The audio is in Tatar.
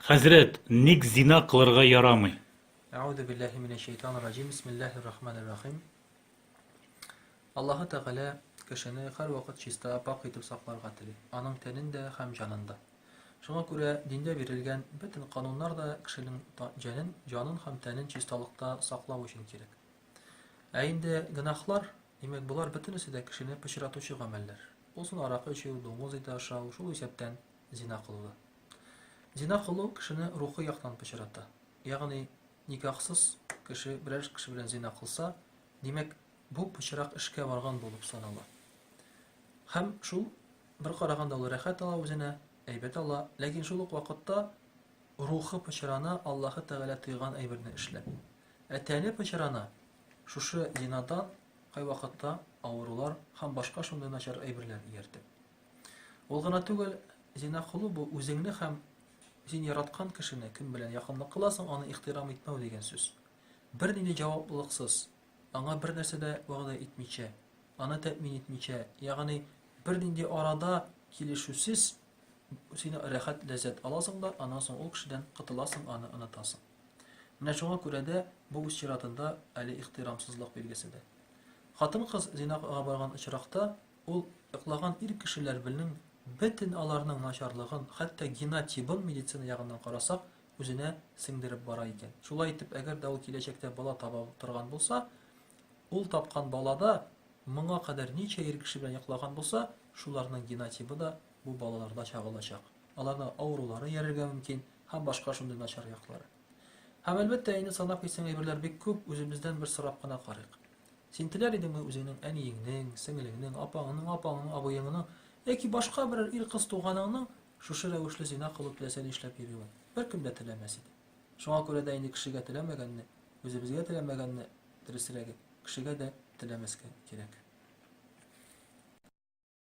Хәзрәт, ник зина кылырга ярамый? Әгъүзу биллаһи минәш шәйтанир раҗим. Бисмиллаһир рахманир рахим. Аллаһы Тәгалә кешене һәрвакыт чиста, пакь итеп сакларга тели, аның тәнен дә һәм җанын да. Шуңа күрә диндә бирелгән бөтен кануннар да кешенең җәнен, җанын һәм тәнен чисталыкта саклау өчен кирәк. Ә инде гөнаһлар, димәк, болар бөтенесе дә кешене пычратучы гамәлләр. Булсын аракы эчү, дуңгыз ите ашау, шул исәптән зина кылуы. Зина кылу кешене рухи яктан пычрата. Ягъни, никахсыз кеше берәр кеше белән зина кылса, димәк, бу пычрак эшкә барган булып санала. Һәм шул бер караганда ул рәхәт ала үзенә, әйбәт ала, ләкин шул ук вакытта рухы пычрана Аллаһы Тәгалә тыйган әйберне эшләп. Ә тәне пычрана шушы зинадан кайвакытта авырулар һәм башка шундый начар әйберләр ияртеп. Ул гына түгел, зина кылу бу үзеңне һәм син яраткан кешене, кем белән якынлык кыласың, аны ихтирам итмәү дигән сүз. Бернинди җаваплылыксыз, аңа бер нәрсә дә вәгъдә итмичә, аны тәэмин итмичә, ягъни бернинди арада килешүсез син рәхәт ләззәт аласың да, аннан соң ул кешедән котыласың, аны онытасың. Менә шуңа күрә дә бу үз чиратында әле ихтирамсызлык билгесе дә. Хатын-кыз зинага барган очракта Ул йоклаган ир кешеләр белнең бетен аларның начарлыгын, хәтта генотибын медицина ягыннан карасак, үзенә сеңдереп бара икән. Шулай итеп, әгәр дә ул киләчәктә бала таба торган булса, ул тапкан балада моңа кадәр ничә ир кеше белән йоклаган булса, шуларның генотибы да бу балаларда чагылачак. Аларда авырулары ярергә мөмкин һәм башка шундый начар яклары. Һәм әлбәттә, инде санап китсәң әйберләр бик күп, үзебездән бер сорап кына карыйк. Син теләр идеңме үзеңнең әниеңнең, сеңлеңнең, апаңның, апаңның, абыеңның яки башка берәр ир кыз туганыңның шушы рәвешле зина кылу теләсә нишләп йөрүен? Беркем дә теләмәс иде. Шуңа күрә дә инде кешегә теләмәгәнне, үзебезгә теләмәгәнне, дөресрәге, кешегә дә теләмәскә кирәк.